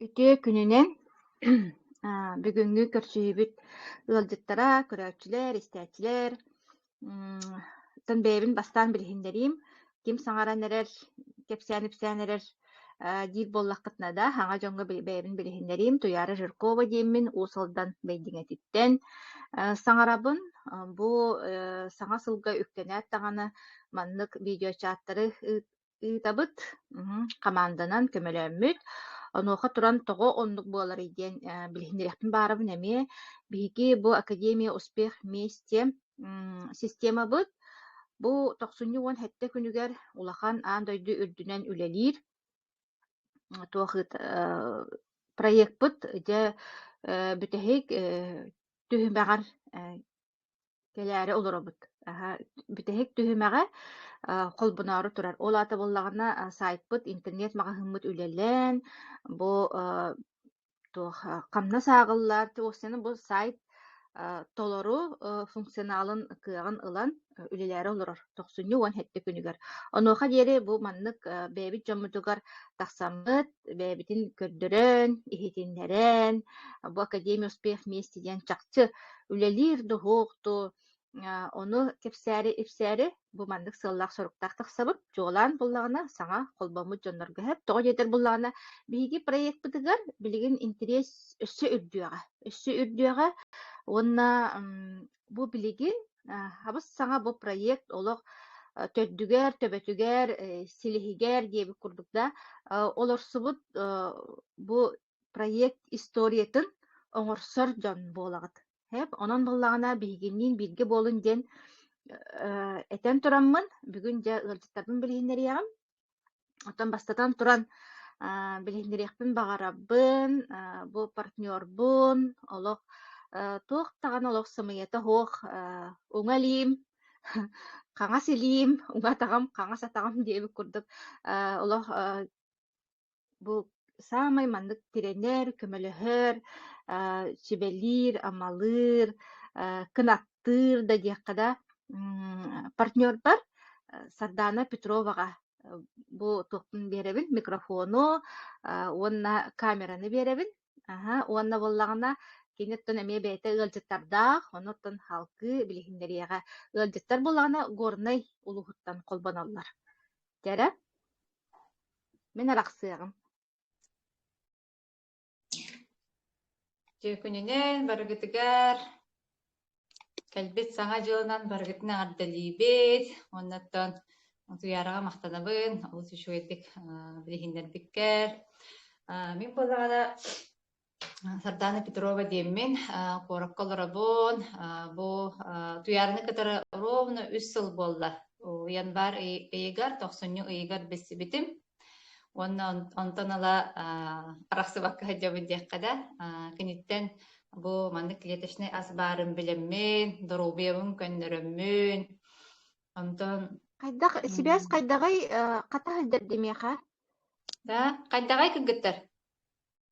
Үтүө күнүнэн бүгүҥҥү көрсүһүүбүт ыалдьыттара, көрөөччүлэр, истээччилэр тан бэйэбин бастаан билиһиннэриим, ким саҥаран эрэр, кэпсээн-ипсээн эрэр диир буоллаххытына да, саҥа дьоҥҥо бэйэбин билиһиннэриим. Туйаара Жиркова диэммин, Уус Алдан Бэйдиҥэтиттэн саҥарабын. Бу саҥа сылга үктэнээт даҕаны маннык видеочааттары ыытабыт, хамаанданан көмөлөммүт. Онуоха туран тоҕо оннук буоларый диэн билиһиннэриэхпин баарабын эмиэ. Биһиги бу Академия успех вместе системабыт бу тохсунньу уон сэттэ күнүгэр улахан аан дойду үрдүнэн үлэлиир туох проекпыт дьэ бүтэһик түһүмэҕэр кэлээри олоробут. Аһа, бүтэһик түһүмэҕэ а, холбоноору турар. Ол аата буоллаҕына а, сайтпыт, интернет-маҕаһыыммыт үлэлээн, бу а, туох а, хамнас ааҕыллар, осыны бу сайт а, толору а, функционалын кыаҕын ылан а, үлэлээри олорор тохсунньу уон сэттэ күнүгэр. Онуоха диэри бу маннык а, бэйэбит дьоммутугар тахсаммыт, бэйэбитин көрдөрөн, иһитиннэрэн, бу Академия успех вместе диэн чахчы үлэлиир доһуокту, ону кэпсээри, ипсээри бу маннык сыаллаах-соруктаах тахсабыт, дьуолаан буллаҕына, саҥа холбоммут дьоннорго эһэп, тоҕо диэтэр буллаҕына, биһиги проекпытыгар билигин интириэс өссө үрдүөҕэ, өссө үрдүөҕэ уонна Бу билигин хабыс-саҥа бу проект олох төрдүгэр, төбөтүгэр, силиһигэр диэбит курдук да олорсубут бу проект историятын оҥорсор дьон буолаҕыт. Хэп, онон буоллаҕына биһигинниин бииргэ буолун диэн этэн тураммын бүгүн дьэ ыалдьыттарбын билиһиннэриэҕим. Оттон бастатан туран, аа, билиһиннэриэхпин баҕарабын, аа, бу партнербун, олох э, туох даҕаны олох сымыйата суох, э, уҥа илиим, хаҥас илиим, уҥа атаҕым, хаҥас атаҕым диэбит курдук, э, олох э, Бу саамай маннык тирэнэр, көмөлөһөр, аа сүбэлиир, амалыыр, аа кынаттыыр да диэххэ да м партнербар Сардаана Петроваҕа бу туохпун биэрэбин микрофону аа уонна камераны биэрэбин. Аһа уонна буоллаҕына кини оттон эмиэ бэйэтэ ыалдьыттардаах, ону оттон халты билиһиннэриэҕэ. Ыалдьыттар буоллаҕына Горнай улууһуттан холбоноллор. Дьэ эрэ. Мин арахсыаҕым Дьүөкүнүнэн барыгытыгар кэлбит Саҥа дьылынан барыгытын эҕэрдэлиибит уоннаттан утуйаараҕа махтанабын олус үчүгэйдик билиһиннэрбиккэр мин буоллаҕына Сардаана Петрова диэммин, куоракка олоробун. Бу Туйаарыны кытары ровно үс сыл буолла. Январь ыйыгар, тохсунньу ыйыгар билсибитим. Уонна онтон ыла арахсыбакка сылдьабын диэххэ да, киниттэн бу маннык клеточнай ас баарын билэммин, доруобуйабын көннөрөммүн. Онтон хайдах сибээс хайдаҕый хата сылдьар димиэхэ? Да, хайдаҕай кыргыттар?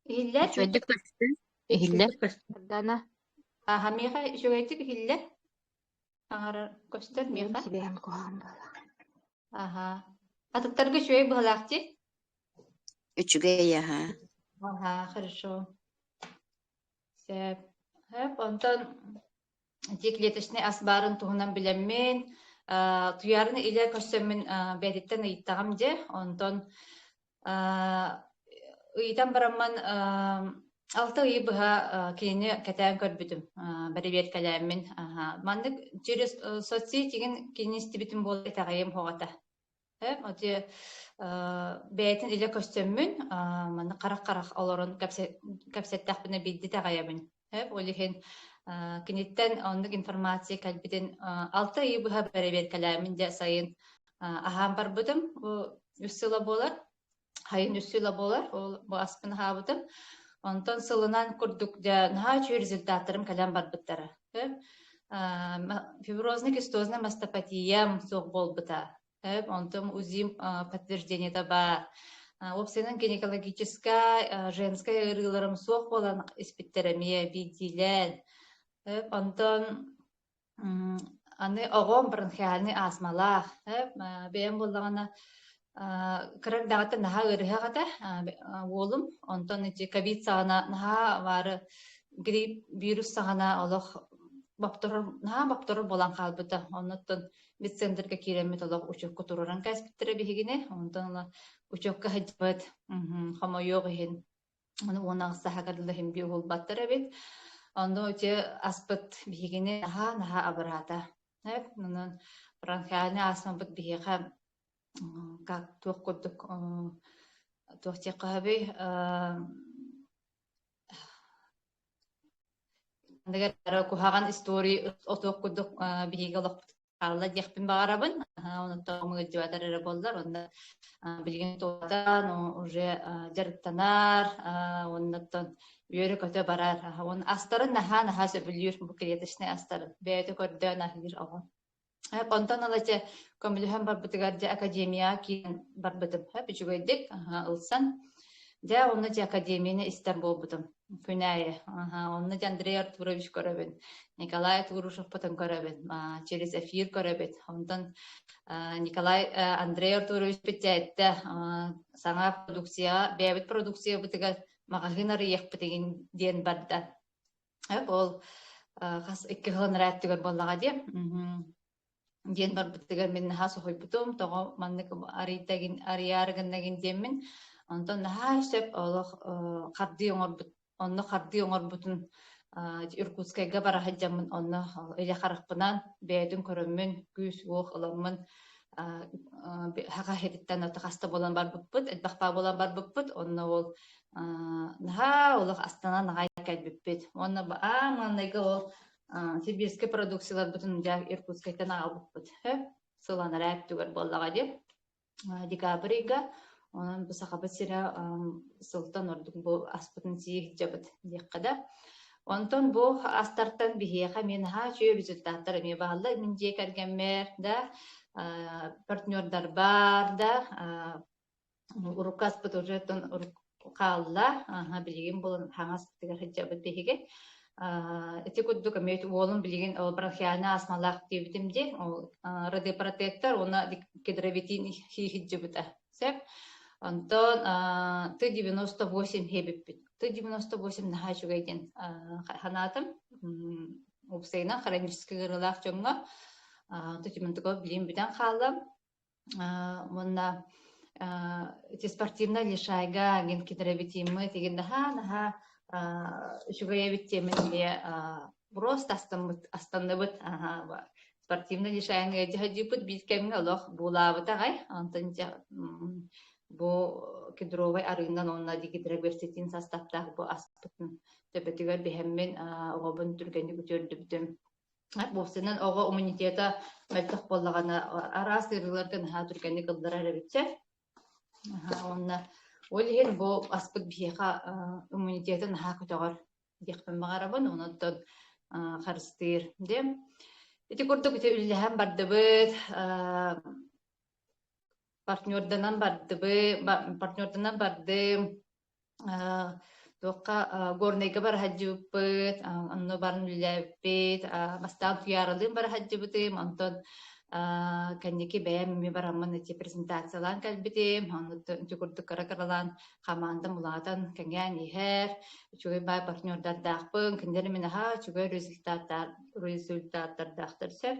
Иһиллэр. Үчүгэйдик көстү. Иһиллэр. Үчүгэйдик көстөр дана. Аха миэхэ үчүгэйдик иһиллэр. Аҥарар көстөр миэхэ. Сибэһэм куһаҕан буола. Аха. Атыттарга үчүгэй быһалаах ти? Үчүгэй аха. Аха, хорошо. Сөп. Сөп. Онтон ити клеточный ас баарын туһунан билэммин туйаарыны илэ көрсөммүн бээтиттэн ыйыттаҕам дьэ онтон ыйытан бараммын алта ый быһа кинини кэтээн көрбүтүм бэрэбиэркэлээммин маннык через соцсети кинини истибитим буолла итэҕэйиэм хоҕото Эм, дьэ, э, бэйэтин илэ көстөммүн, а, манна харах-харах олорон кэпсэ кэпсэттэхпинэ билдит аҕайабын. Эп, ол иһин, а, киниттэн оннук информация кэлбитин, а, 6 ый быһа бэрэбиэркэлээмин дьэ сайын, а, аһаан барбытым. Бу 3 сыла буолар. Хайын үс сыла болар, ол бу аспын аһаабытым. Онтон сылынан курдук дьэ наһаа үчүгэй результаттарым кэлэн барбыттара. Фиброзный кистозный мастопатия суох буолбута. Онтон УЗИм подтверждениета бар. Уопсайынан гинекологическай, женскай ыарыыларым суох буолан испиттэр эмиэ биирдиилээн. Онтон Аны оҕом бронхиальный астмалаах, бэйэм буоллаҕына кырак даҕата наһаа ыарыһах этэ уолум онтон ити ковид саҕана наһаа баары грипп вирус саҕана олох бопторор наһаа бопторор буолан хаалбыта оннуттан медцентрга киирэммит олох учекка туруоран кээспиттэрэ биһигини онтон ыла учекка сылдьыбыт хомойуох иһин Ону уонна саһагар лэһимги уһулбаттар эбит. Ону дьэ аспыт биһигини наһаа-наһаа абыраата. Эп, онон бронхиальный астмабыт биһиэхэ как туох курдук туох диэххэһэбий куһаҕан истории отуох курдук биһиги олохпут хаалла диэхпин баҕарабын онтон ыалдьыбатар эрэ буоллар онно билигин туолатан уже дьарыктанар оннуттан үөрэ-көтө барар он астарын наһаа наһаа сөбүлүүр бу клеточнай астарын бэйэтэ көрдөөн аһыыр оҕо онтон алача көмөлөһөн барбытыгар дьэ академияҕа киирэн барбытым үчүгэйдик ылсан дьэ онно дьэ академияны истэр буолбутум Күнәйе. Онно Андрей Артурович көрөбүн. Николай Артурушевпытын көрөбүн. Через эфир көрөбүн. Онтон Николай Андрей Артурович бүттээттэ саҥа продукцияҕа бэйэбит продукциябытыгар маҕаһыын арыйыахпытигин диэн барда. Ол хас икки хонрааттыгар буоллаҕа диэ. диэн барбытыгар мин наһаа соһуйбутум тоҕо маннык арыйда гин арыйаары гыннагин диэммин онтон наһаа сөп олох хардыы оҥорбут онно хардыы оҥорбутун Иркутскайга бара сылдьаммын онно илэ харахпынан бэйэтин көрөммүн күүс-уох ыламмын хахаһититтэн ото хаста буолан барбыппыт элбэхпаа буолан барбыппыт онно ол наһаа олох астанан аҕай кэлбиппит уонна аан маанайга ол сибирскай продукцияларбытын дьэ Иркутскайтан аҕалбыппыт сылан эрэ өттүгэр буоллаҕа диэн декабрьга онон бу сахабыт сирэ сылтан ордук бу аспытын сии иһдьэбит диэххэ да онтон бу астартан биһиэхэ мен haa үчүгэй результаттар эмиэ баалла мин дьиэ кэргэммэр да партнердар бар да урукку аспыт уже оттон хаалла аха билигин булун хаҥаспытыгар сылдьабыт биһиги ити курдук эмиэ уолун билигин ол бронхиальный астмалаах диэбитим дии ол радиопротектор уонна гидровитин хийһиддьыбыта сөп онтон ты девяносто восемь хебиппит ты девяносто восемь наһаа үчүгэй диэн санаатым уопсайынан хронический ыарыылаах дьоҥҥо ты демонтыков билим бүтэн хааллым уонна ити спортивная лишайга гин китэрэбитиммы тигин наһаа наһаа үчүгэйэбит тиэмэнде броз астаммыт астанныбыт спортивная лишайга дьаһадьыппыт бииркэмҥэ олох буулаабыт аҕай онтон бу кедровый арыынан онна дигидробертитин састаптаах бу аспытын төбөтүгэр биһэммин оҕобун түргэнник үтүөрдүбүтүм Бовсинан оҕо иммунитета мөлтөх буоллаҕына араас ыарыыларга наһаа түргэнник ылларар эбит сэр. Уонна ол иһин бу аспыт биһиэхэ иммунитета наһаа көтөҕөр диэхпин баҕарабын. Онон харыстыыр. Дем. Ити курдук ити үллэһэн бардыбыт, партнерданан бардыбы, партнерданан барды, туохха горнайга бара сылдьыбыппыт, онно баран үлэлээбиппит, бастаан Туйааралыын бара сылдьыбытым, онтон кэнники бэйэм эмиэ бараммын эти презентациялаан кэлбитим, оннуттан курдук кыра-кыралаан хамаандам улаатан кэҥээн иһэр, үчүгэй баай партнердардаахпын, кинилэр мин аhaa үчүгэй результаттар результаттардаахтар сөп.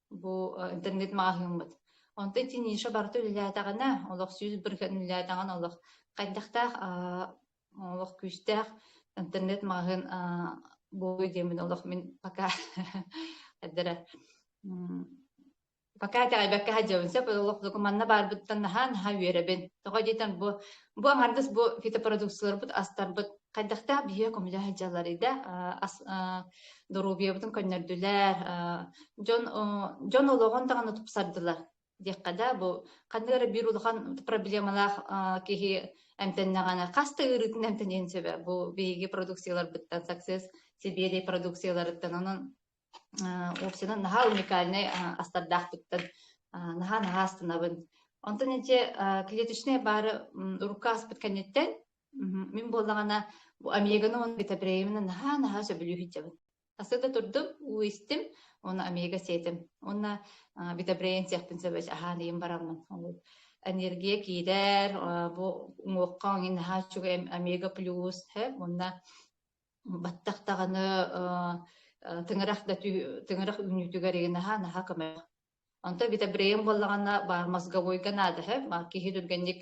бу интернет маҕаһыыммыт онтон ити ниша барыта үлэлээтэҕинэ олох сүүс быркан үлэлээтэҕин олох хайдахтаах олох күүстээх интернет маҕаһыын буолуй диэмин олох мин пока эддэрэ пока тэҕэйбэккэ садьабын сөп олох докуманна баарбыттан наһаа наһаа үөрэбин тоҕо диэтэн бу бу аҥардас бу фитопродукцияларбыт астарбыт хайдахтаах биһиги көмүлэ сылдьалларый да доруобуйабытын көннөрдүлэр дьон дьон олоҕун даҕаны тупсардылар диэххэ да бу ханнык эрэ биир улахан проблемалаах киһи эмтэннэҕинэ хас да ыарыытын эмтэниэн сөбө бу биһиги продукцияларбыттан саксес сибиэдэй продукцияларыттан онон Община наһаа уникальнай астардаахтыктан наһаа-наһаа астынабын. Онтон инчи клеточнай баары урукка аспыт кэнниттэн мин буоллаҕына бу омеганы он битабреемина наһаа-наһаа сөбүлүүһүтчэбин. Асыда турдум, уу истим, оны омега сетим. Онна битабреен сехпин сөбөс аһааныйым бараммын. Энергия киирэр, бу уҥуохха иҥин наһаа чугу омега плюс, онна Баттах даҕаны тыҥырах да тыҥырах үүнүүтүгэр иги наһаа наһаа көмөлөх. Онто бите бреем буоллаҕына баар мозговойга наада һэ киһи түргэнник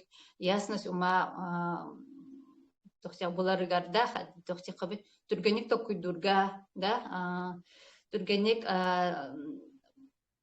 ясность ума тохсех буларыгар да тохсехабит түргэнник tokkуйдуурга да түргэнник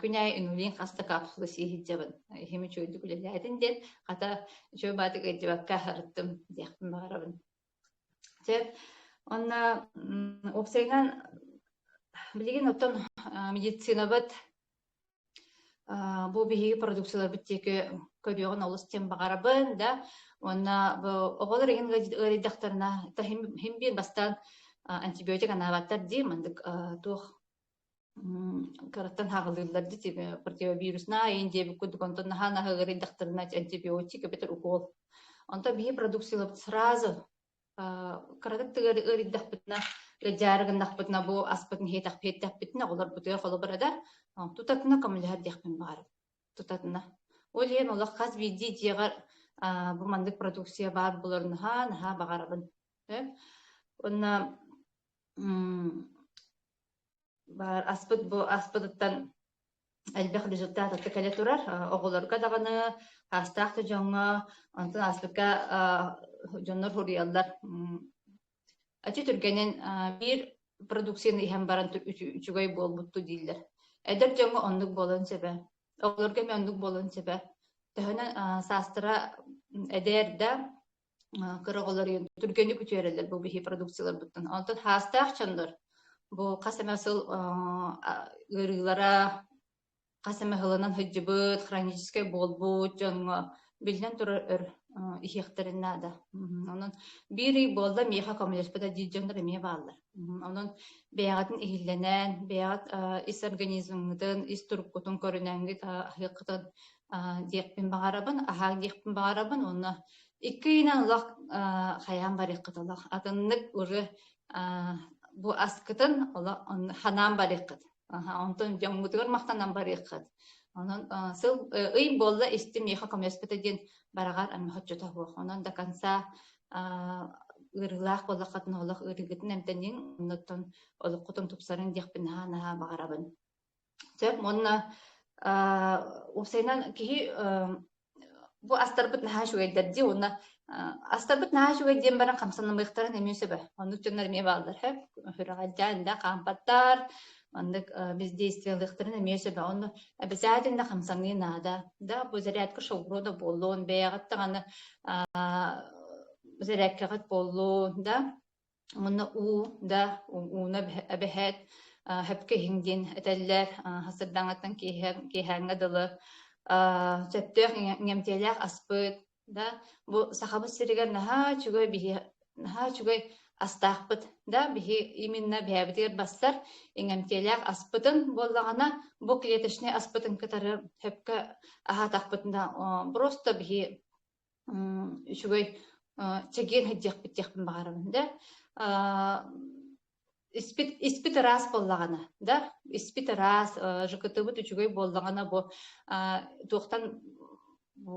Күн аайы үҥүүлиин хас да капсула сии сылдьабын. Иһим үчүгэйдик үлэлээтин диэн, хата, үчүгэй баатык ыйдьыбакка аһарыттым диэхпин баҕарабын. Дьэ, онно уопсайынан билигин оттон медицинабыт бу биһиги продукцияларбыт диэки көрүөҕүн олус диэн баҕарабын да уонна оҕолор иһин ыарыйдахтарына хим биир бастаан антибиотик анаабаттар дии маннык туох Караттан хаҕылыыллар дити противовируснаа иин диэбит курдук онтон наһаа наһыгырыйдахтарына антибиотик эбэтэр укол онто биһи продукциялабыт сразу кыратык тыгар ыарыйдахпытына ыдьаарыгыннахпытына бу аспытын хиэтэхпиэттэхпитинэ олорбутуйа холобура да тутатына коммуляр диэхпин баар тутатына ол иэн олох хас биирдии дьиэҕэр бу маннык продукция баар булар наһаа наһаа баҕарабын онно Баар аспыт бу аспытыттан элбэх результат атта кэлэ турар оҕолорго даҕаны хаастаах да дьоҥҥо онтон аспыкка дьоннор хуруйаллар ачи түргэнин биир продукцияны иһэн баран үчүгэй буолбутту дииллэр эдэр дьоҥҥо оннук буолан сөбө оҕолорго эмиэ оннук буолан сөбө төһөнөн саастара эдэр да кыра оҕолору түргэнник үтүөрэллэр бу биһи продукцияларбыттан. Онтон хаастаах дьоннор бу хас эмэ сыл ыарыылара хас эмэ хылынан сылдьыбыт, хроническай буолбут дьоҥҥо биллэн турар өр иһиэхтэрин наада. Онон биир ый буолла миэхэ коммуниспыта дии дьоннор эмиэ бааллар. Онон бэйэҕитин иһиллэнэн, бэйэҕит ис организмҥытын, ис туруккутун көрүнэҥҥит аһыаххытын диэхпин баҕарабын, аһаах диэхпин баҕарабын уонна икки ыйынан лах хайаан барыаххыт олох атыннык ыры бу аскытын олох ханаан барыаххыт Онтон дьоҥҥутугар махтанан барыаххыт. Онон сыл ый буолла истим миэхэ коммерспыта диэн бараҕар аны хоччото буох. Онон да конца ыарыылаах буоллаххытына олох ыарыыгытын эмтэниҥ, оннуттан олоххутун тупсарыҥ диэхпин наһаа наһаа баҕарабын. Сөп, уонна уопсайынан киһи Бу астарбыт наһаа үчүгэйдэр дии уонна астарбыт наһаа үчүгэй диэн баран хамсанымыахтарын эмиэ сөбө. Оннук дьоннор эмиэ бааллар. Хүрэҕэлдьээн да хаампаттар, оннук бездействиялыахтарын эмиэ сөбө. Онно обязательно хамсаҥыы наада. Да, бу зарядка шоуруо да буоллун, бэйэҕит даҕаны зарядкаҕыт буоллун, да Манна уу да ууна эбэһээт хэпкэ иһиҥ диэн этэллэр. Сырдаҥаттан киэһээҥҥэ дылы сөптөөх иҥэмтиэлээх аспыт да бу Сахабыт сиригэр наһаа үчүгэй биһи наһаа үчүгэй астаахпыт да биһи именно бэйэбитигэр бастар иҥэмтиэлээх аспытын буоллаҕына бу клеточный аспытын кытары сөпкө аһаатахпытына просто биһи үчүгэй чэгиэн сылдьыахпыт диэхпин баҕарабын да испит испит ыраас буоллаҕына да испит ыраас ЖКТ-быт үчүгэй буоллаҕына бу туохтан бу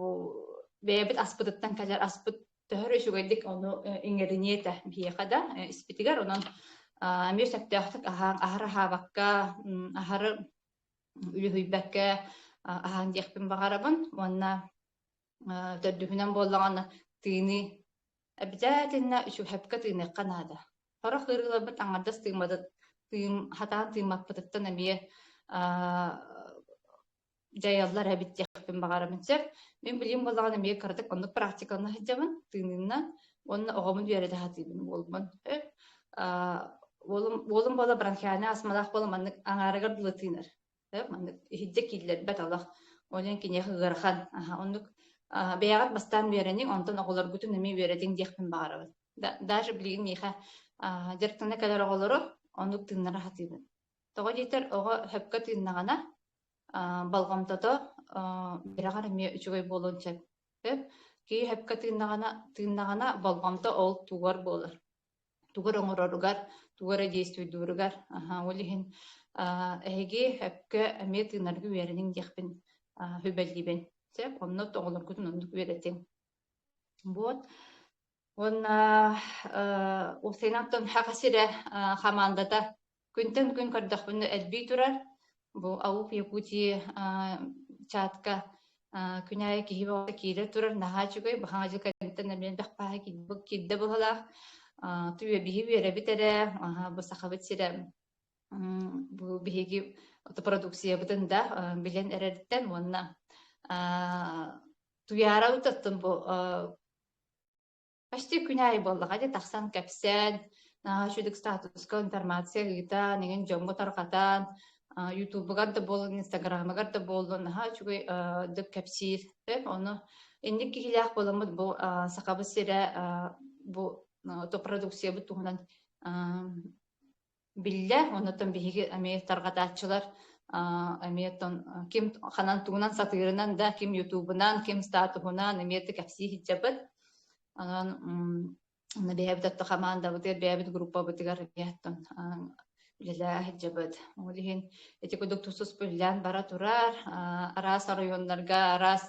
бэйэбит аспытыттан кэлэр аспыт төһөр үчүгэйдик ону иҥэриниэ этэ биһиэхэ да испитигэр онон эмиэ сөптөөхтүк аһар аһаабакка аһары үлүһүйбэккэ аһаан диэхпин баҕарабын уонна төрдүһүнэн буоллаҕына тыыны Эбитээтиннэ үчүгэпкэ тыыныахха наада. Сорох ыарыыларбыт аҥардас тыымматыт тыым хатаан тыыммаппытыттан эмиэ дьайаллар эбит диэхпин баҕарабын сөп. Мин билим буоллаҕына эмиэ кыратык оннук практикалана сылдьабын тыынынна уонна оҕобун үөрэтэ сатыыбын буолбун өп уолум уолум буола бронхиальнай астмалаах буола маннык аҥаарыгар дылы тыынар маннык иһирдьэ кииллэрбэт олох ол иһин киниэхэ ыарахан оннук бэйэҕит бастаан үөрэниҥ онтон оҕолоргутун эмиэ үөрэтиҥ диэхпин баҕарабын даже билигин миэхэ дьарыктана кэлэр оҕолору оннук тыыннара сатыыбын тоҕо диэтэр оҕо сөпкө тыыннаҕына болҕомтото бираҕар эмиэ үчүгэй буолуон сөп киһи сөпкө тыыннаҕына тыыннаҕына болҕомто ол тугар буолар тугу эрэ оҥороругар, тугу эрэ действуйдууругар, аһа, ол иһин аа, эһиги эпкэ эмиэ тыынарга үөрэниҥ диэхпин аа, сүбэлиибин. Чэ, онно оҕолоргутун оннук үөрэтиҥ. Вот. Уонна э, ол сенаттан хаҕас сирэ хамаандата Күнтэн күн көрдөхпүнэ элбии турар. Бу Аук Якутии чатка күнәйэ киһи бөҕө киирэ турар наһаа үчүгэй баһаҥа кэнниттэн эмиэ элбэх пааһа киирдэ быһалаах түүйэ биһи үөрэбит эрэ бу сахабыт сирэ бу биһиги продукциябытын да билэн эрэриттэн уонна туйаара бу Почти күн аайы буоллаҕа дии тахсан кэпсээн, үчүгдүк статуска информация ыытан, игин дьоҥҥо тарҕатан, ютубугар да буоллун, инстаграмыгар да буоллун, наһаа үчүгэй дык кэпсиир. Ону инник киһилээх буоламмыт бу Сахабыт сирэ бу то продукциябыт туһунан биллэ, оннуттан биһиги эмиэ тарҕатааччылар эмиэ тон ким ханан тугунан сатыырынан да, ким ютубунан, ким статуһунан эмиэ кэпсии сылдьабыт. Анан бэйэбит отто хамаандабытыгар, бэйэбит группабытыгар яттон үлэлээ сылдьабыт. Ол иһин ити кудук тусус пүллээн бара турар, араас оройуоннарга, араас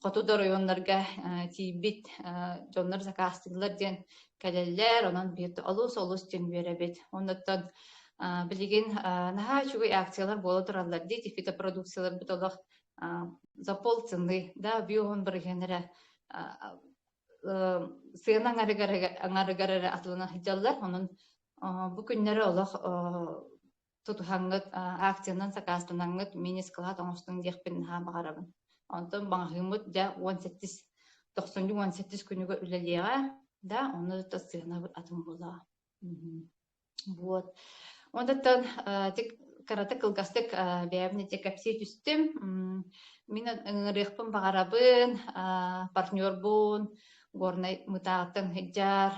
хоту да оройуоннарга тиийбит дьоннор закаастыылар диэн кэлэллэр, онон биир олус-олус дьиҥ биэрэбит. Оннуттан билигин наһаа үчүгэй акциялар буола тураллар дии, фитопродукцияларбыт олох за полцены, да, биоһун бырыһыанара сыана аҥарыгар аҥарыгар эрэ атылана сылдьаллар. Онон бу күннэри олох тутуһаҥҥыт, акциянан сакаастанаҥҥыт мини скалат оҥостуҥ диэхпин наһаа баҕарабын. Онтон маҕаһыыммыт дьэ уон сэттис тохсунньу уон сэттис күнүгэ үлэлиэҕэ да оны то сыанабыт атын буолаҕа. Вот. Онтон карата кылгастык бэйэбин эти кэпсии түстүм. Мин ыҥырыахпын баҕарабын, партнербун, Горнай мытааттан хыдьаар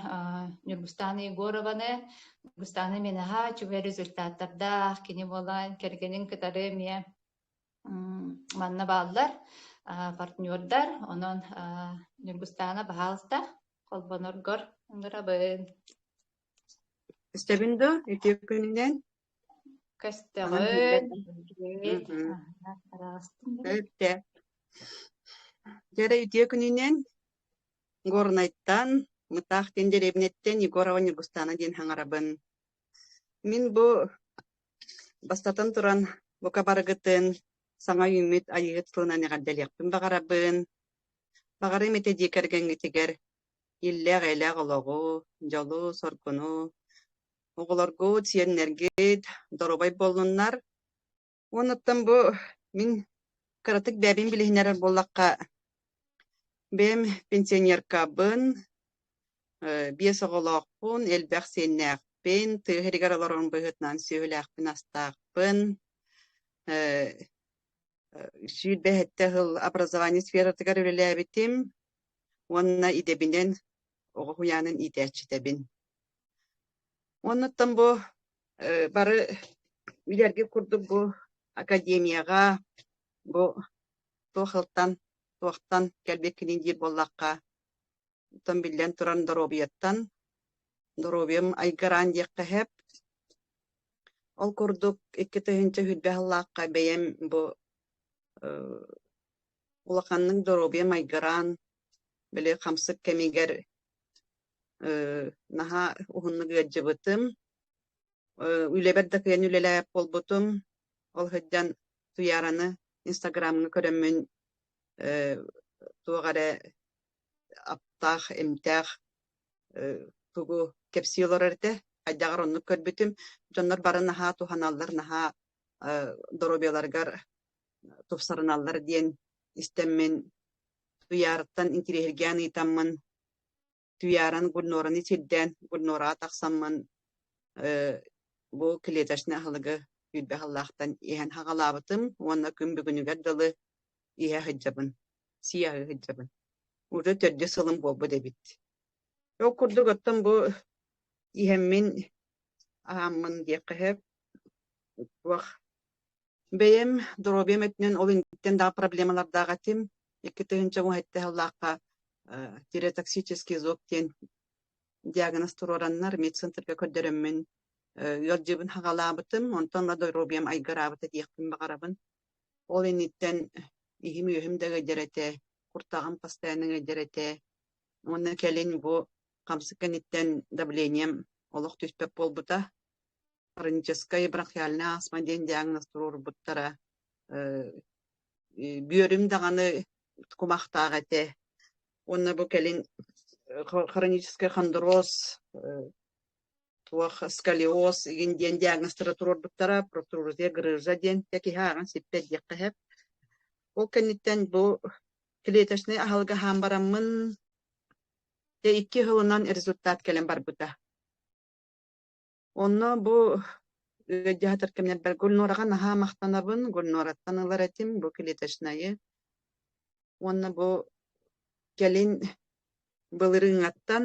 Нюргустана Егорованы, Нюргустана Менаха чугай результаттардаах кини буолан кэргэнин кытары эмиэ манна бааллар партнердар онон Нюргустана баһаалта холбоноргор ынырабын Истэбин да үтүө күнүнэн. Кэстэҕит. Өптө. Дьара үтүө күнүнэн Горнайтан, Мытаах диэн деревнэттэн Егорова Ньургустаана диэн хаҥарабын. Мин бу бастатан туран бука барыгытын саҥа үүммүт айыыт тылынан эҕэрдэлиэхпин баҕарабын. Баҕарым ити дьиэ кэргэҥҥитигэр иллээх-элээх олоҕу, дьолу, соргуну, оҕолоргут, сиэннэргит доруобай буоллуннар. Уонуттан бу мин кыратык бэйэбин билиһиннэрэр буоллахха, бэйэм пенсионеркабын, э, биэс оҕолоохпун, элбэх сиэннээхпин, тыа иһэригэр олорорум быһыытынан сүөһүлээхпин-астаахпын, э, сүүрбэ сэттэ сыл образование сфератыгар үлэлээбитим уонна идэбинэн оҕо уһуйаанын иитээччитэбин. Оннуттан бу бары билэрги курдук бу академияга бу туохылтан туохтан кэлбиккинин диир буоллахха оттон биллэн туран доруобуйаттан доруобуйам айгыраан диэххэ сэп Ол курдук икки тыһыынча үрдэ сыллаахха бэйэм бу улаханнык доруобуйа майгыраан, били хамсык кэмигэр наһаа уһуннук ыалдьыбытым. Үлэбэр да кыайан үлэлээбэт буолбутум. Ол сылдьан Туйаараны Инстаграмҥа көрөммүн туох эрэ аптаах, эмтээх тугу кэпсии олорор этэ хайдаҕар оннук көрбүтүм дьоннор бары наһаа туһаналлар наһаа доруобуйаларыгар тупсарыналлар диэн истэммин Туйаарыттан интириэһиргээн ыытаммын Туйааран Гульнораны сирдээн Гульнораҕа тахсаммын бу клеточный аһылыгы күүрбэ аһыллаахтан иһэн хаҕалаабытым уонна күн бүгүнүгэр дылы иһэ сылдьабын, сиэҕи сылдьабын. Уже төрдө сылым буолбут эбит. Ол курдук оттон бу иһэммин аһааммын диэххэһэп туох бэйэм доруобуйам өттүнэн ол инниттэн даҕа проблемалардаах этим икки тыһынча уһайтта сыллаахха тиреотоксический зов диэн диагноз туруораннар медцентрга көрдөрөммүн ыалдьыбын хаҕалаабытым онтон доруобуйам айгыраабыта диэхпин баҕарабын Ол инниттэн иһим-үөһүм да эгэйдэр этэ, куртаҕым постоянно эгэйдэр этэ. Уонна кэлин бу хамсык кэнниттэн давлением олох түспэт буолбута. Хроническай бронхиальная астма диэн диагноз туруорбуттара. Э, бүөрүм даҕаны кумахтаах этэ. Уонна бу кэлин хронический хондроз туох сколиоз игин диэн диагностара туруорбуттара протрузия грыжа диэн киһи ааҕан сиппэт диэххэ сөп ол кэнниттэн бу клеточный аһылык аһаан бараммын дьэ икки сылынан результат кэлэн барбыта онно бу ыалдьаатар кэмнэр бэл гульнораҕа наһаа махтанабын гульнораттан ылар этим бу клеточнайы уонна бу кэлин былырыҥаттан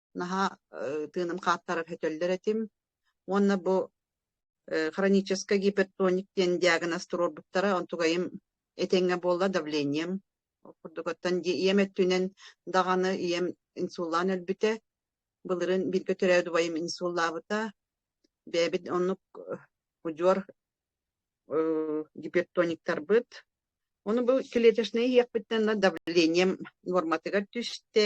наһаа тыыным хааттарар өтөллөр этим уонна бу хронический гипертоник диэн диагноз туруорбуттара онтугайым этэҥҥэ буолла давлением ол курдук оттон ийэм өттүнэн даҕаны ийэм инсуллаан өлбүтэ былырын бииргэ төрөөт убайым инсуллаабыта бэйэбит оннук удьуор гипертониктарбыт ону бу клеточнай иһиэхпиттэн давлением норматыгар түстэ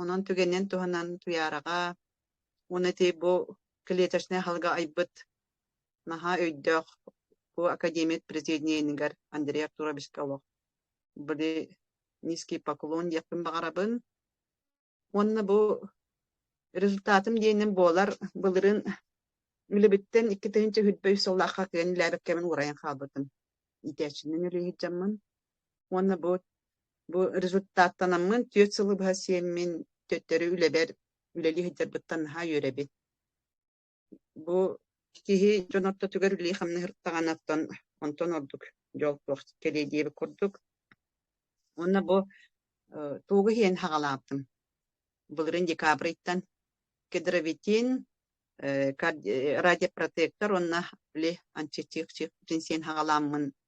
Онон түгэнинэн туһанан Туйаараҕа уонна ити бу клеточнай аһылга айбыт наһаа өйдөөх бу академият президиэнигэр Андрей Артуровичка олох были низкий поклон диэхпин баҕарабын уонна бу результатым диэним буолар былырын үлэбиттэн икки тыһыынча үһүрбэй сыллаахха кыан илээбэккэмин уурайан хаалбытым иитээччинэн үлэ иһитжаммын уонна бу бу результаттанаммын түөрт сылы быһа сиэммин төттөрү үлэбэр үлэлии сылдьарбыттан наһаа үөрэбин бу киһи дьон ортотугар үлэһи-хамнаһыртаҕына оттон онтон ордук дьол туох кэлиэ диэбит курдук уонна бу тугу иһин хаҕалаабытым былырын декабрьтан кедровитин радиопротектор уонна ли антитих син хаҕаламмын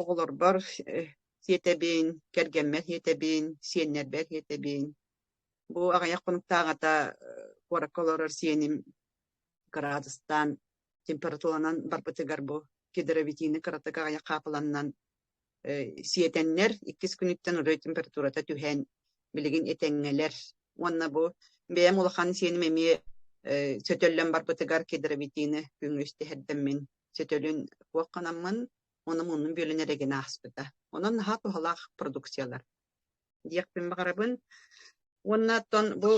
оҕолорбор сиэтэбин, кэргэммэр сиэтэбин, сиэннэрбэр сиэтэбин. Бу аҕыйах хонуктааҕыта куоракка олорор сиэним градустаан температуранан барбытыгар бу гидровитины кыратык аҕыйах хаапыланнан сиэтэннэр иккис күнүттэн удай температурата түһэн билигин этэҥҥэлэр уонна бу бэйэм улахан сиэним эмиэ сөтөллөн барбытыгар гидровитины күҥҥүс тэһэрдэммин сөтөлүн туох гынаммын Онон оннун бүөлүн эрэ гин ааспыта. Онон наһаа туһалаах продукциялар. Диэхпин баҕарабын. Уонна оттон бу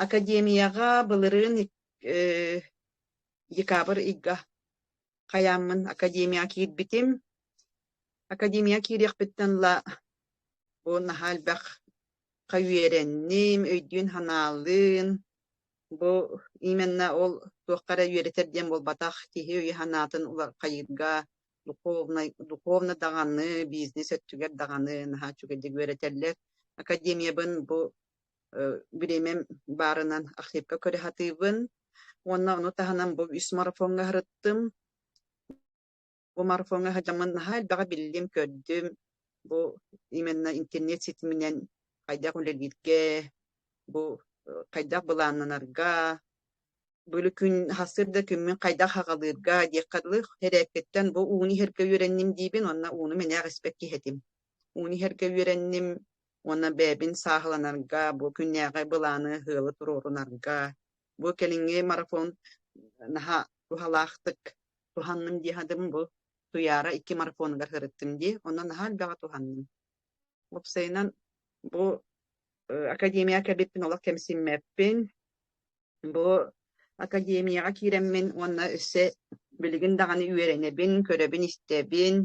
академияҕа былырыын э, декабрь ыйга хайааммын академияҕа киирбитим. Академияҕа киириэхпиттэн ла бу наһаа элбэх хаюеренним, өйдүүн-санаалыын, Бу именно ол туохха эрэ үөрэтэр диэн буолбатах, киһи өйө-санаатын улархайыырга духовнай, духовно даҕаны, бизнес өттүгэр даҕаны наһаа үчүгэйдик үөрэтэллэр. Академиябын бу бириэмэм баарынан архивка көрө сатыыбын. Уонна ону таһынан бу үс марафоҥҥа сырыттым. Умарфоҥҥа сылдьаммын наһаа элбэҕи биллим, көрдүм. Бу именно интернет ситиминэн хайдах үлэлииргэ, бу э, хайдах былааннанарга, бөлү күн хассыыр да күммүн хайдах аҕалыырга диэххэ дылы эрээккиттэн бу ууну иһэргэ үөрэнним диибин уонна ууну мэнээх испэк киһэтим. Ууну иһэргэ үөрэнним уонна бэйэбин сааһыланарга, бу күннээҕи былааны, сыалы туруорунарга Бу кэлиҥҥи марафон наһаа туһалаахтык туһанным дии аһатым бу Туйаара икки марафонугар сырыттым дии. Онон наһаа элбэҕи туһанным. Уопсайынан бу академияҕа кэлбиппин олох кэмсиммэппин. Бу академияҕа киирэммин уонна өссө билигин даҕаны үөрэнэбин, көрөбүн-истэбин.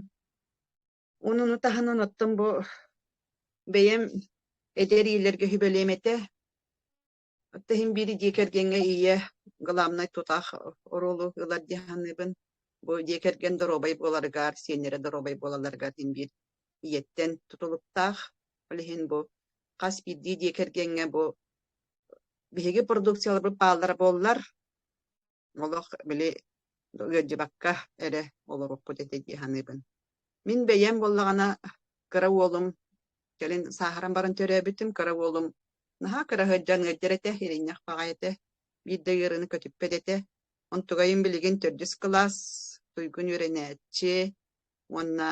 Онуну таһынан оттон бу бэйэм эдэр иилэргэ сүбэлиэм этэ. Отто иһин биири дьиэ кэргэҥҥэ ийэ главнай тутаах оруолу ылар дии саныыбын. Бу дьиэ кэргэн доруобай буоларыгар, сиэннэрэ доруобай буолалларыгар диэн биир ийэттэн тутулуктаах. Ол иһин бу хас биирдии дьиэ кэргэҥҥэ бу биһиги продукцияларбыт бааллара буоллар, олох били ыалдьыбакка эрэ олоруппут этэ дии саныыбын. Мин бэйэм буоллаҕына кыра уолум кэлин сааһыран баран төрөөбүтүм кыра уолум наһаа кыра сылдьан ыалдьар этэ, иринньэх баҕа этэ, биирдэ ыарыыны көтүппэт этэ. Онтугайым билигин төрдүс кылаас туйгун үөрэнээччи уонна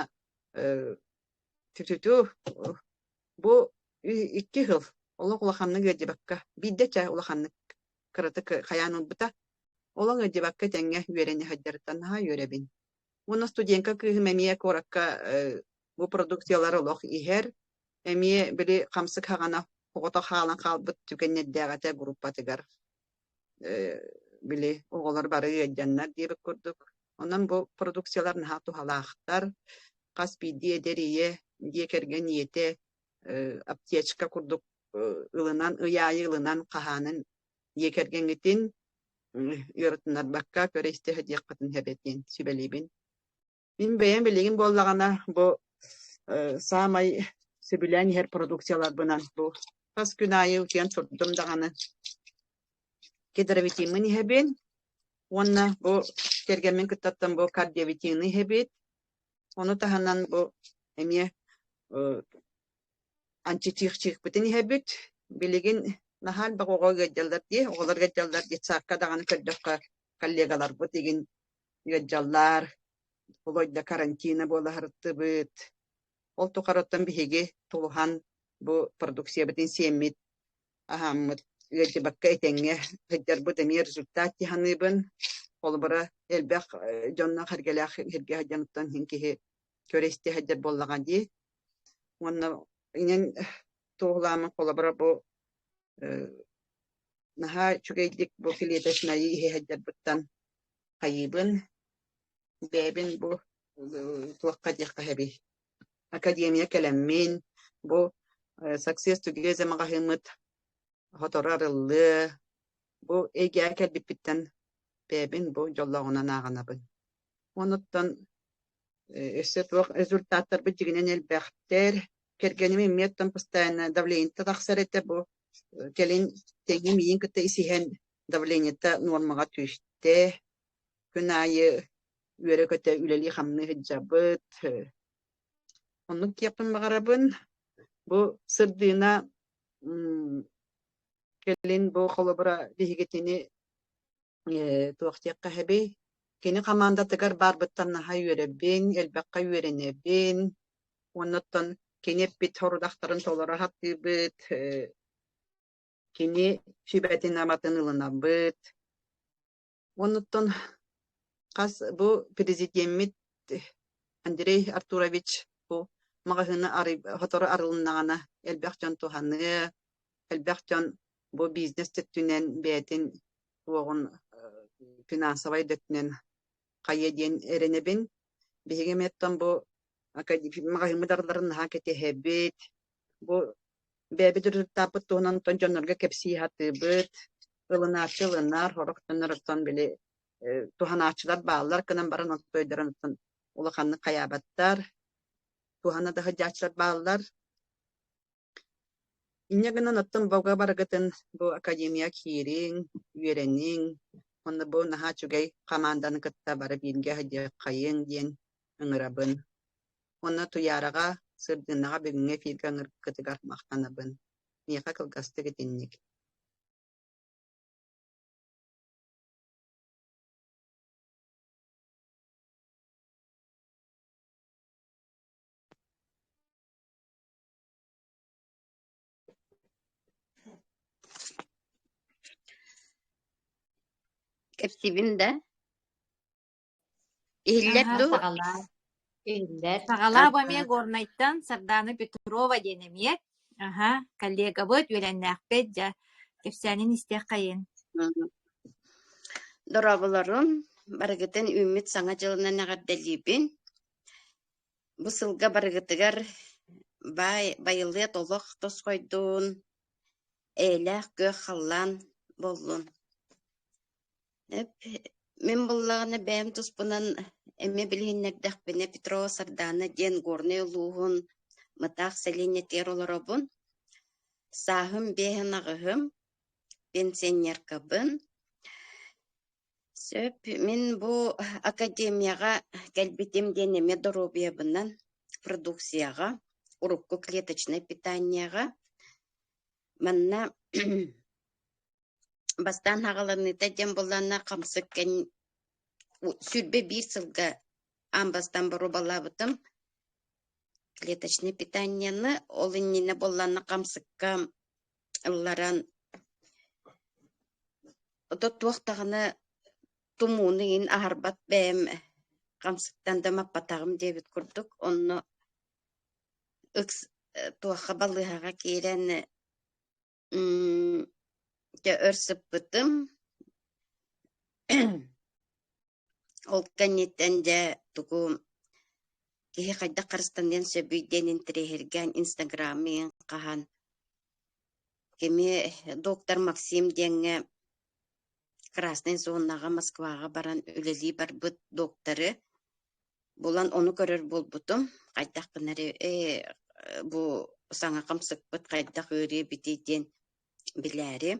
э, түтүтү бу икки сыл олох улаханнык ыалдьыбакка биирдэ чэ улаханнык кыратык хайаан ылбыта. Олоҥ ыдьыбакка тэҥҥэ үөрэн сылдьарыттан наһаа үөрэбин. Уонна студентка кыыһым эмиэ куоракка бу продукциялар олох иһэр. Эмиэ били хамсык хаҕана оҕото хаалан хаалбыт түгэннэрдээҕэтэ группатыгар били оҕолор бары ыалдьаннар диэбит курдук. Онон бу продукциялар наһаа туһалаахтар. Хас биирдии эдэр ийэ, дьиэ кэргэн ийэтэ аптечка курдук ылынан ый аайы ылынан хаһаанын ийэ кэргэҥҥитин ыарытыннарбакка көрө истэ диэххитин эбэтин сүбэлиибин мин бэйэм билигин буоллаҕына бу саамай сөбүлээн иһэр продукцияларбынан бу хас күн аайы утуйан турдум даҕаны гидровитиммын иһэбин уонна бу кэргэммин кыттаттан бу кардиовитины иһэбит Ону таһынан бу эмиэ антитиихчиикпитин иһэбит. Билигин наһаа элбэх оҕо ыалдьаллар дии, оҕолор ыалдьаллар детсадка даҕаны көрдөххө коллегаларбыт игин ыалдьаллар, Володя карантина буолаһыртыбыт. Ол тухарыттан биһиги тулуһан бу продукциябытын сиэммит аһааммыт ыалдьыбакка этэҥҥэ сылдьарбыт эмиэ результат дьаһаныыбын. Холобура, элбэх дьонно харгэлаах сиргэ сылдьаныттан иһин киһи көрө-истэ сылдьар буоллаҕа дии. Уонна инэн туоһулаамын холобура бу наһаа үчүгэйдик бу клеточнайы иһэ сылдьарбыттан хайыыбын. Бэйэбин бу туохха диэххэ сөбүй академия кэлэммин, бу Success Together маҕаһыыммыт хоторо арыллыа, бу эйгэҕэ кэлбиппиттэн бэйэбин бу дьоллооҕунан ааҕынабын. Онуттан өссө туох результаттарбыт дьигинэн элбэхтэр. Кэргэним иммиэттэн постоянно давлениетэ тахсар этэ бу кэлин тэҥим иин кытта исиһэн давлениета нуормаҕа түстэ. күн аайы үөрэ-көтө үлэлии-хамныы сылдьабыт. Оннук диэхпин баҕарабын. Бу сырдыына кэлин бу холобура биһигитини туох диэххэ эһэбий? Кини хамаандатыгар баарбыттан наһаа үөрэбин, элбэххэ үөрэнэбин. Оннуттан кини эппит сорудахтарын толоро саттыыбыт. Кини сүбэтин-аматын ылынабыт. Оннуттан хас бу президиэммит Андрей Артурович бу маҕаһыыны сотору арылыннаҕына элбэх дьон туһаныа, элбэх дьон бу бизнес өттүнэн бэйэтин уоҕун финансовай да өттүнэн хайыа диэн эрэнэбин. Биһиги эмиттэн бу маҕаһыыммыт арыларын наһаа кэтэһэбит, Бу бэйэбит ырытыктааппыт туһунан оттон дьоннорго кэпсии сатыыбыт, ылынааччы ылынар, хороох төннөр оттон били туһанааччылар бааллар гынан баран оттойдарын оттон улаханнык хайаабаттар, туһана да сылдьааччылар бааллар. Инньэ гынан оттон бога барыгытын бу академия киириҥ, үөрэниҥ, онно бу наһаа үчүгэй хамаанданы кытта бары бииргэ сыдьаххайыҥ диэн ыҥырабын. Уонна Туйаараҕа, Сырдыыннаҕа бүгүҥҥү эфиргэ ыҥырыккытыгар махтанабын. Миэхэ кылгастык итинник кэпсиибин да Иһиллэр Аһа, дуо? саҕалаа. Иһиллэр. Саҕалаа бу эмиэ Тарта. Горнайтан Сардаана Петрова диэн эмиэ. Аһа, коллегабыт, үөрэннээхпит, дьэ, кэпсээнин истиэххэйин. Мгм. Дорооболорун, барыгытын үүммүт Саҥа дьылынан эҕэрдэлиибин. Бу сылга барыгытыгар баай, байылыат олох тос хойдун, эйэлээх күөх халлаан боллун. Эп, мин буллаҕына бэйэм туспунан эмиэ билиһиннэрдэхпинэ Петро Сардаана диэн Горнай улууһун Мытаах сэлиэнньэтигэр олоробун. Сааһым биэһин аҕыһым, пенсионеркабын. Сөп, мин бу академияҕа кэлбитим диэн эмиэ доруобуйабынан, продукцияҕа, урукку клеточнай питаниеҕа. Манна Бастаан хаҕаланыыта дьэм булланна, хамсык кэннин сүүрбэ биир сылга аан бастаан боруобалаабытым. Клеточное питаниены, ол иннинэ булланна хамсыкка ылларан ото туох даҕаны тумууну иһин аһарбат бэйэм хамсыктан да маппатаҕым диэбит курдук, онно ыкс туохха балыыһаҕа киирэн Дьэ, өр сыппытым. Ол кэнниттэн дьэ тугу киһи хайдах харыстаныан сөбүй диэн интэриэһиргээн инстаграммыйын хаһан кими доктор Максим диэҥҥэ Красной зонаҕа Москваҕа баран үлэлии барбыт доктору булан ону көрөр буолбутум. Хайдах гынары э бу саҥа хамсыкпыт хайдах ыарыы-битий диэн билээри.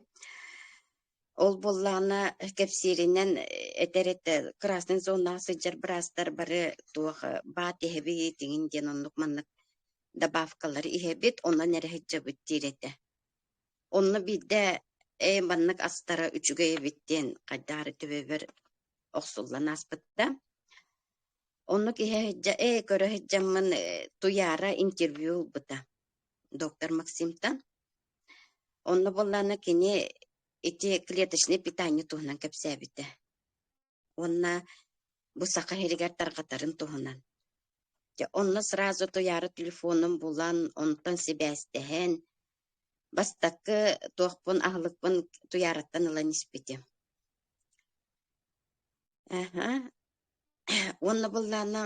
Ол буоллаҕына кэпсииринэн этэр этэ красный зонаҕа сылдьар быраастар бары туох баат иһэбит тиҥин диэн оннук маннык добавкалары иһэбит, онон эрэ сылдьабыт диир этэ. Онно биирдэ э маннык астара үчүгэй эбит диэн хайдаары төбөбөр охсуллан ааспытта. Онно киһи сыдьа «Э, көрө сыдьаммын Туяра интервью ылбыта доктор Максимтан. Онно боллаана кини ити клеточный питание туһунан кэпсээбитэ. Уонна бу саха сиригэр тарҕатарын туһунан. Дьэ, онно сразу Туяра телефонун булан, онтон сибээстэһэн, Бастакы туохпун аһылыкпын Туйаараттан ылан испитим. Аха. Уонна быллаана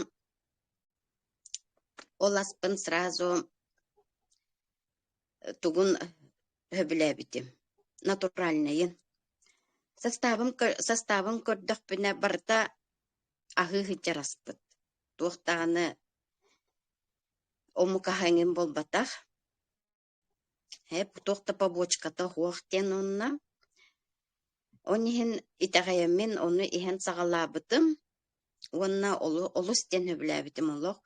ол аспын сразу тугун сөбүлээбитим. Натуральнайын. Састаабым көр- састаабын көрдөхпүнэ барыта аһыы сылдьар аспыт. Туох даҕаны омук аһа эҥин буолбатах. Эһэ туох да побочката суох диэн уонна он иһин итэҕэйэммин ону иһэн саҕалаабытым уонна олу олус диэн сөбүлээбитим олох.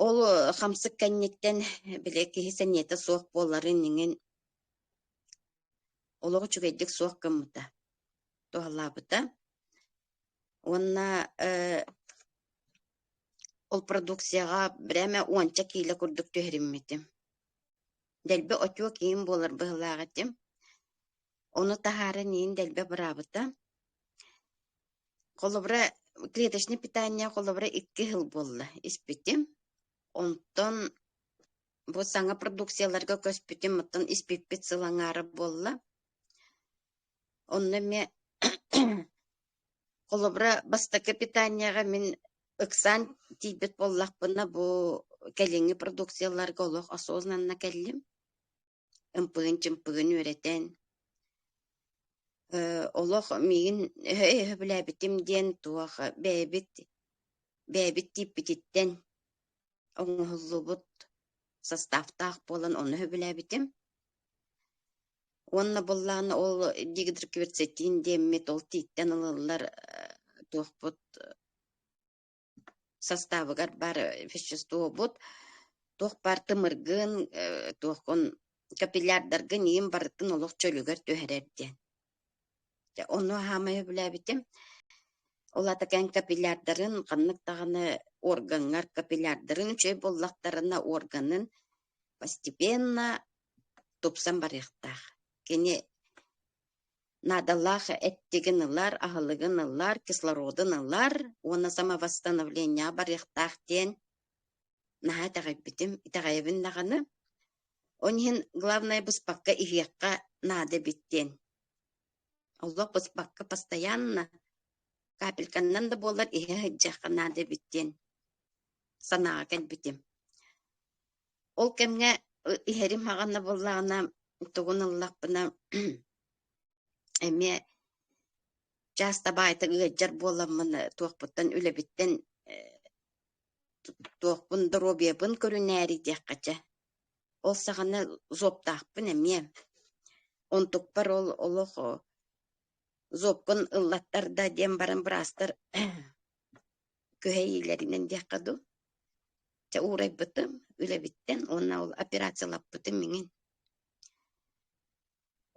Ол хамсык кэнниттэн били киһи сэниэтэ суох буоларын иҥин олоҕо үчүгэйдик суох гыммыта туһалаабыта уонна э, ол продукцияҕа бреме уонча киилэ курдук түһэриммитим дэлби отчуо киин буолар быһылаах этим ону таһааран иин дэлбэ быраабыта холобура клеточный питание холобура икки сыл буолла испитим онтон Бу саҥа продукцияларга көспүтүм, оттон испиппит сыл аҥаара буолла. Онно эмиэ холобура, бастакы питаниеҕа мин ыксаан тиийбит буоллахпына, бу кэлиҥҥи продукцияларга олох осознанно кэллим. ымпыгын-чымпыгын үөрэтэн, э, олох миигин өһө-өһө билээбитим диэн туох бэйэбит бэйэбит тииппититтэн оҥоһуллубут состав-таах буолан ону сөбүлээбитим. Уонна буллаана ол дигидроклероцетин диэммит ол тииттэн ылыллар туохпут составыгар бар веществобут туох бар тымыргын туохкун капиллярдаргын иин барытын олох чөлүгэр түһэрэр диэн Дьэ, ону хаамай сөбүлээбитим. Ол аата кэн капиллярдарын ханнык даҕаны органҥар капиллярдарын үчүгэй буоллахтарына, органын постепенно тупсан барыахтаах. Кини наадалаах эттигин ылар, аһылыгын ылар, кислородун ылар уонна самовосстановление барыахтаах диэн наһаа итэҕэйбитим, итэҕэйэбин даҕаны, он иһин главное быспакка иһиэххэ наада эбит диэн. Олох быспакка постоянно, капельканнан да буоллар иһэ сылдьыахха наада эбит диэн санааҕа кэлбитим. Ол кэмҥэ иһэрим хаҕанна буоллаҕына, тугун ыллахпына, эмиэ чаас табаайта ыалдьар буоламмын, туохпуттан, үлэбиттэн Туохпун доруобуйабын көрүнээри диэххэ чэ, ол саҕана зоптаахпын эмиэ. Онтукпар ол олох зобкун ыллаттар да диэн баран быраастар күһэйиилэринэн диэххэ дуу, чэ уурайбытым үлэбиттэн уонна ол операциялаппытым миҥин.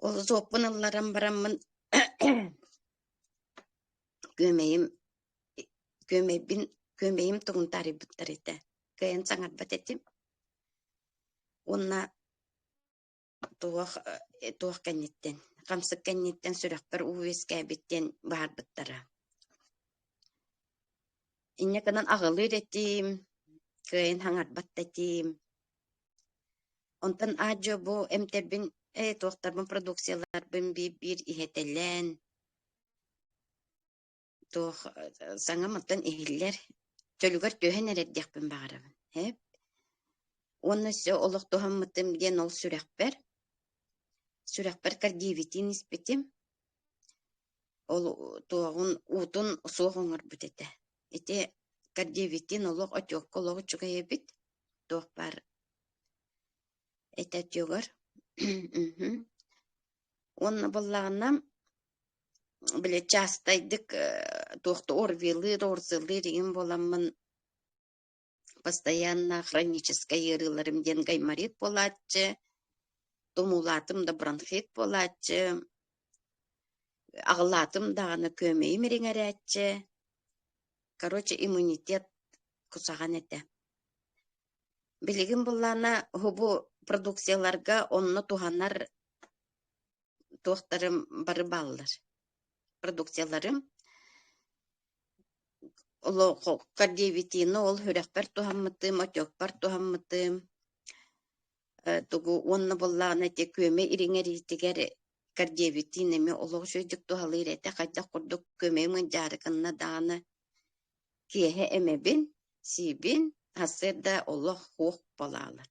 Ол зоппун ылларан бараммын күөмэйим күөмэйбин күөмэйим тугун таарыйбыттар этэ кыайан саҥарбат этим уонна туох э, туох кэнниттэн хамсык кэнниттэн сүрэхпэр уу үөскээбит диэн баһарбыттара инньэ гынан аҕылыыр этим кыайан хаҥарбат этим онтон аа-дьуо бу эмтэрбин э туохтарбын продукцияларбын биир-биир иһэтэлээн туох саҥамыттан иһиллэр чөлүгэр түһэн эрэрдиэхпин баҕарабын эп уонна олохтоһоммутум диэн ол сүрэхпэр сүрэхпэр кардиевитин испитим ол туоҕун уутун суох оҥорбут этэ ити кардиевитин олох очуокка олох үчүгэй эбит туох баар этэ отёгор уонна буоллаҕына Били частайдык туохтуу орвеллыыр, орзеллыыр игин буоламмын постоянно хроническай ыарыыларым диэн гайморит буолааччы, тумуулаатым да бронхит буолааччы, аҕылаатым даҕаны күөмэйим ириҥэрээччи, короче иммунитет кусаҕан этэ. Билигин буллаана уһубу продукцияларга онно туһанар туохтарым бары бааллар. Продукцияларым олоххо диэбитиини ол үрэхпэр туһаммытым, отекпар туһаммытым, э тугу уонна буоллаҕына ити күөмэй ириҥэриитигэр кардиэбитиин эмиэ олох үчүгэйдик туһалыыр этэ. Хайдах курдук күөмэйим ыдьаарыкынна даҕаны киэһэ эмэбин, сиибин, сарсыарда олох хуох балаалар.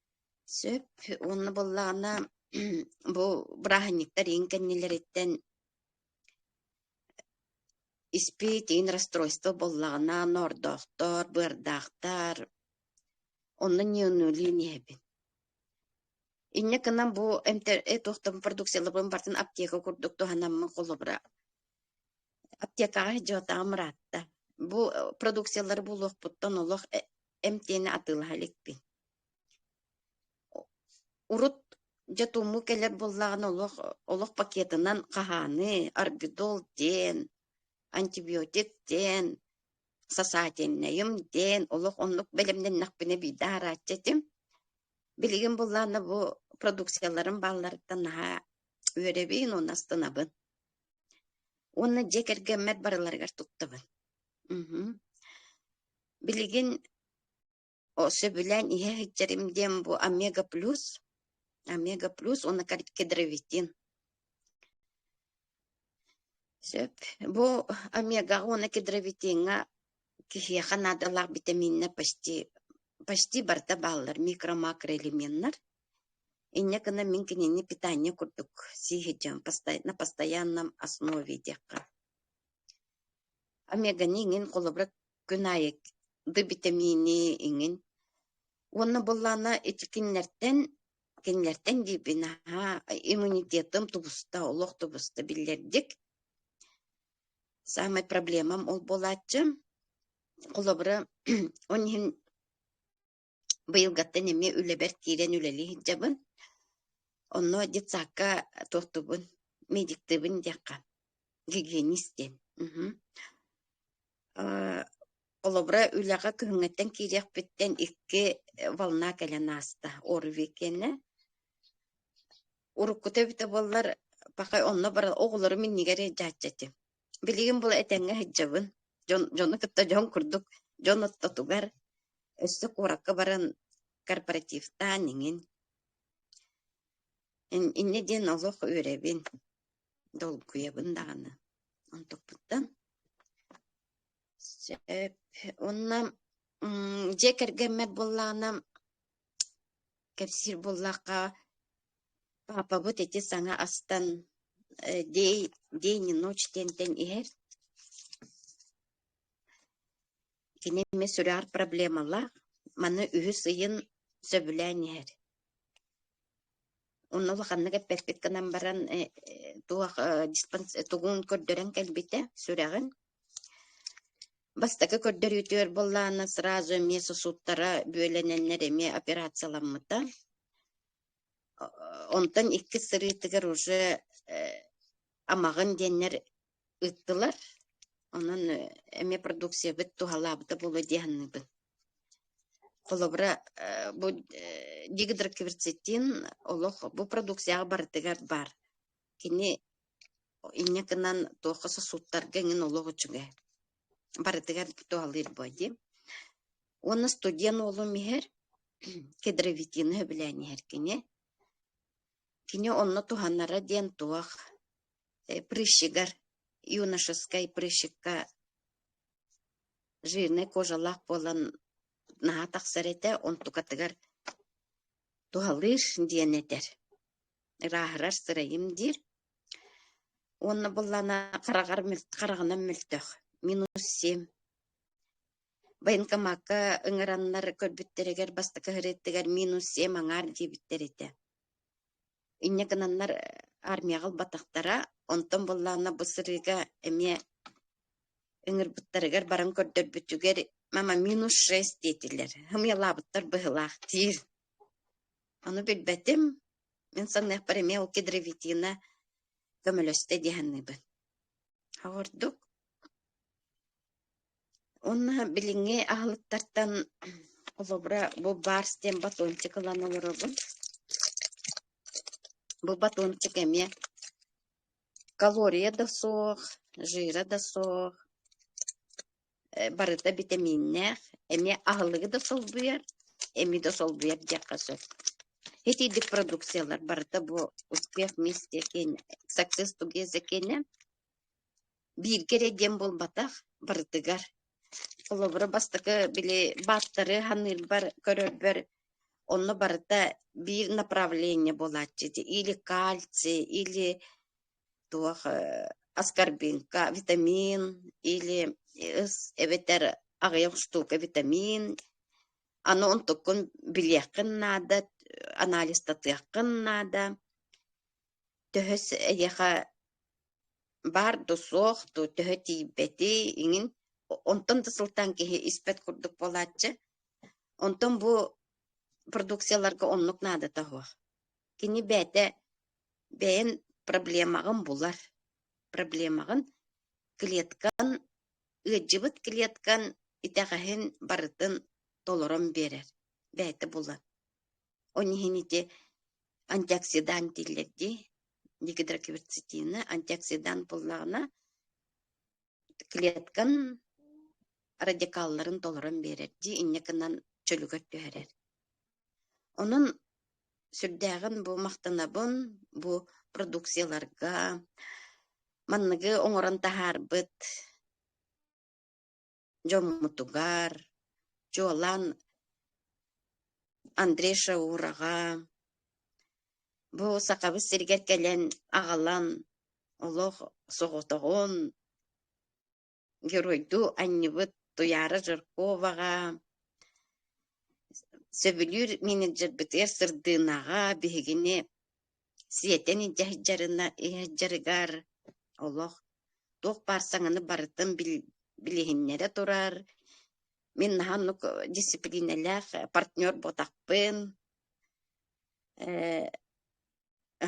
Сөп уонна буоллаҕына бу бырааһынньыктар иин кэннилэриттэн испит иин расстройство буоллаҕына ноордоохтор, быардаахтар онно ньыаныылыын иһэбин. Инньэ гынан бу эмтэ э туох да продукциялабын барытын аптека курдук туһанаммын холобура аптекаҕа сдьиотаҕым ыраатта. Бу продукциялары булуохпуттан олох эмтиэни атыылаһа иликпин Урут дьэ туому кэлэр буоллаҕына олох олох пакетынан хаһааны, орбидол диэн, антибиотик диэн, сосательнайым диэн олох оннук бэлэмнэннэхпинэ биирдэ аһарааччы этим. Билигин быллаана бу продукцияларым баалларыттан наһаа үөрэбин уонна астынабын. Уонна дьиэ кэргэммэр барыларыгар туттабын. Мм. Билигин сөбүлээн иһэ сылдьарым диэн бу омега плюс омега плюс уонна кардикидровитин сөп бу омегаҕа уонна кидровитиҥҥа киһиэхэ наадалаах битаминнар почти почти барыта бааллар микро-макроэлементнар инньэ гына мин кинини питание курдук сии сылдьан на постоянном основе диэххэ омеганы иҥин холобура күн аайы ды битэмиини иҥин уонна буоллаана ити кинилэртэн кинилэртэн диибин наһаа иммунитетым тубуста олох тубуста биллэрдик саамай проблемам ол буолааччы холобура он иһин Быйылгаттан эмиэ үлэбэр киирэн үлэлии сылдьабын. Онно детсадка туортубун, медиктыыбын диэххэ, гигиенист диэн. Мгм. Э, холобура, үлэҕэ күһүҥҥүттэн киириэхпиттэн икки волна кэлэн ааста ОРВИ-кэннэ. Уруккута эбитэ буоллар, пока онно баран оҕолорум иннигэр илдьээччи этим. Билигин була этэҥҥэ сылдьабын. Дьон, дьону кытта дьон курдук дьон ортотугар, өссө куоракка баран корпоративтаан иҥин. Инньэ диэн олох үөрэбин, долгуйабын даҕаны. Онтукпуттан. Сөп. Уонна дьиэ кэргэммэр буоллаҕына Кэпсиир буоллахха, паапабыт ити саҥа астан э, день день и ночь диэнтэн иһэр. Кини эмиэ сүрэҕэр проблемалаах. Маны үһүс ыйын сөбүлээн иһэр. Онно улаханнык эппэппит гынан баран э, э, туох э, диспанс тугун көрдөрөн кэлбитэ сүрэҕин. Бастакы көрдөрүүтүгэр буоллаана сразу эмиэ сосудтара бүөлэнэннэр эмиэ операцияламмыта. Онтон икки сырыытыгар уже амаҕын диэннэр ыыттылар. Онон эмиэ продукциябыт туһалаабыта буолуо дии саныыбын. Холобура, э, бу э, дигидрокверцетин олох бу продукцияҕа барытыгар баар. Кини инньэ гынан туохха сосудтарга эҥин олох үчүгэй. Барытыгар туһалыыр буо дии. Уонна студент уолум иһэр, кедровитины сөбүлээн иһэр кини. Кини онно туһанара диэн туох э, прыщигар, юношескай прыщикка Жирнэй кожалаах буолан наһаа тахсар этэ, онтукатыгар туһалыыр диэн этэр. Ырааһырар сырайым диир. Уонна буллана хараҕар хараҕынан мөлтөх минус семь. Военкомакка ыҥыраннар көрбүттэригэр бастакы ырыаттыгар минус семь аҥаар диэбиттэр этэ инньэ гынаннар армияҕа ылбатахтара, онтон быллаанна бу сырыыга эмиэ ыҥырбыттарыгар баран көрдөрбүтүгэр «Мама, минус шесть» диэтилэр. Хымыйалаабыттар быһыылаах диир. Ону билбэтим. Мин санныахпар эмиэ ол Кедровитина көмөлөстө дии саныыбын. Ордук Уонна билиҥҥи аһылыктартан холобура бу баарс диэн батончик ылан олоробун. Бу батончик эмиэ калория да суох, жира да суох, э барыта битэмииннээх, эмиэ аһылыгы да солбуйар, эми да солбуйар диэххэ сөп. Итийдик продукциялар барыта бу «Успех вместе» киэнэ «Success together» киэнэ. бииргэ эрэ диэн буолбатах, барытыгар. Холобура, бастакы били бааттары ханыырбар, көрөрбөр онно барыта биир направление буолааччы ити или кальций, или туох э, аскорбинка, витамин, или ыс эбэтэр аҕыйах штука витамин. Аны онтуккун билиэххин наада, анализтатыаххын наада. Төһөс эйиэхэ Баар да суох, дуу, төһө тиийбэтий, иҥин онтон да сылтаан киһи испэт курдук буолааччы. Онтон бу продукцияларга оннук наадата суох. Кини бэйэтэ бэйэн проблемаҕын булар. Проблемаҕын клеткан, ыалдьыбыт клеткан итэҕэһин барытын толорон биэрэр. Бэйэтэ булар. Он иһин ити антиоксидант дииллэр дии, гидрокверцетина антиоксидант буоллаҕына, клеткан радикалларын толорон биэрэр дии, инньэ гынан чөлүгэр түһэрэр. Онон сүрдээҕин бу махтанабын бу продукцияларга манныгы оҥорон таһаарбыт дьоммутугар, чуолаан Андрей Шаураҕа, бу Сахабыт сиригэр кэлэн аҕалан олох соҕотоҕун геройдуу анньыбыт Туйаара Жирковаҕа, сөбүлүүр менеджербитигэр сырдыынаҕа биһигини Сиэтэн илдьэ сылдьарына иһэрдьарыгар олох туох баар саҥаны барытын бил- билиһиннэрэ турар. Мин наһаа оннук дисциплиинэлээх партнер буотахпын. Э,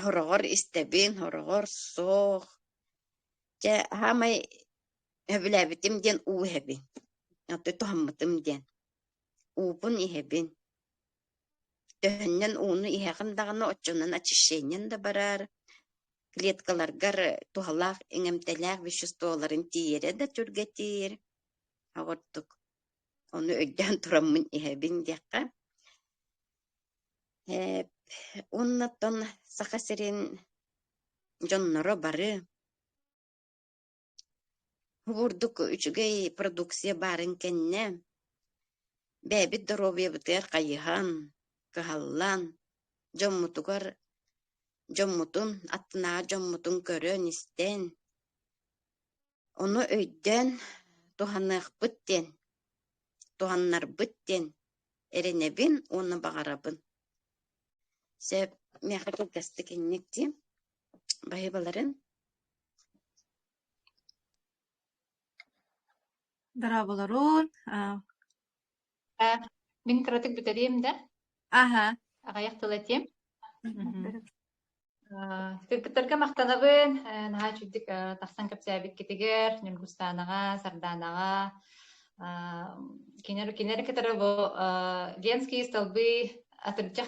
сороҕор истэбин, сороҕор суох. Дьэ, саамай сөбүлээбитим диэн уу иһэбин. Оттон туһаммытым диэн. Уупун иһэбин. Төһөннөн ууну иһэҕин даҕаны, оччонон очищениен да бараар, клеткаларгар туһалаах иҥэмтэлээх веществоларын тиийэрэ да түргэтиир. Оҕордук ону өйдөөн тураммын иһэбин диэххэ. Э, уоннаттан Саха сирин дьонноро бары Уурдук үчүгэй продукция баарын кэннэ, бэйэбит доруобуйабытыгар хайыһан, кыһаллан, дьоммутугар, дьоммутун, аттынааҕы дьоммутун көрөн-истэн, ону өйдөөн туһаныахпыт диэн, туһаннарбыт диэн эрэнэбин уонна баҕарабын. Сөп, миэхэ кылгастык инник дии. Байыбаларын Дорооболорун. А, Э, Мин кыратык бүтэриэм да, Аха. аҕайах тыл этиэм. Мгм. Э, Кыргыттарга махтанабын. Э, Наһаа үчүгдүк э, тахсан кэпсээбиккитигэр, Ньургустаанаҕа, Сардаанаҕа, э, кинилэри кинилэри кытары бу э, Ленские столбы атырдьах